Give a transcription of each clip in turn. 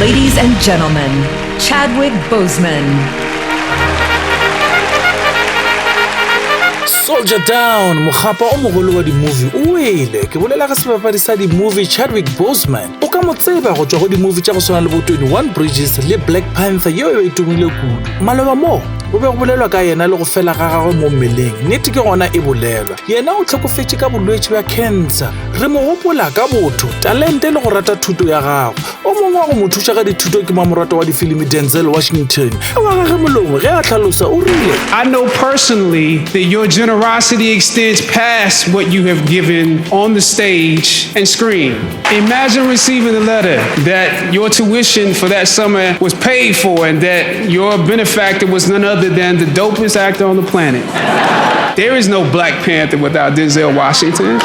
Ladies and gentlemen, Chadwick Boseman. Soldier Down, mokgapa o mogolo wa di-movie o wele. Ke bolela ga sebapadi sa di-movie Chadwick Boseman. O ka mo tseba go tšwa go di-movie tša go swana le bo 21 Bridges le Black Panther yeo e tumile kudu. Maloba moo, go be go bolelwa ka yena le go fela ga gagwe mo mmeleng. Nnete ke gona e bolelwa. Yena o tlhokofetše ka bolwetši bja cancer. Re mo gopola ka botho, talente le go rata thuto ya gagwe. O mongwe wa go mo thuša ka dithuto ke mamoratwa wa difilimi Denzel Washington. Ka wa gage molomo ge a hlalosa o rile, I know personally that your generosity extends past what you have given on the stage and screen. Imagine receiving a letter that your tuition for that summer was paid for and that Your benefactor was none other than the dopest actor on the planet. There is no Black Panther without Denzel Washington.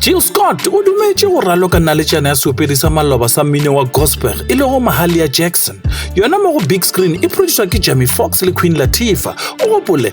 jill scott o dumetše go raloka naletšana ya seopedi sa maloba sa mmino wa gospel e lego mahalia jackson yona mo go big screen e produswa ke jamie fox le queen latifa o gopole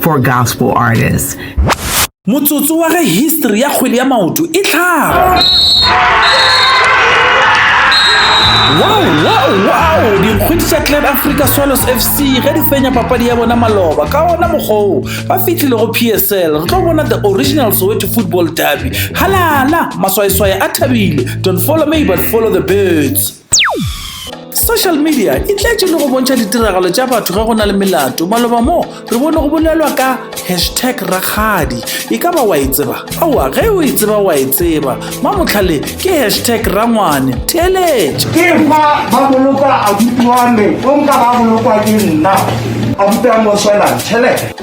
for gospel artists. Motsotso wa ge history ya kgwele ya maoto e tlhaga. Wow, wow, wow! Dikgwedi tša Clan Africa Swallows FC ge di fenya papadi ya bona maloba ka ona mokgoo ba fitlhile go PSL re tlo bona the original Soweto football derby. Halala, maswaeswae a thabile. Don't follow me but follow the birds. social media e tletše le go bontšha ditiragalo tša batho ge go na le melato maloba moo re bone go bolelwa ka hashtag rakgadi e ka ba wa e tseba aowa ge o e tseba wa e tseba mamotlhale ke hashtag rangwane theeletša ke fa ba boloka abuti wa me o nka ba bolokwa ke nna abuti wa me o tšhelete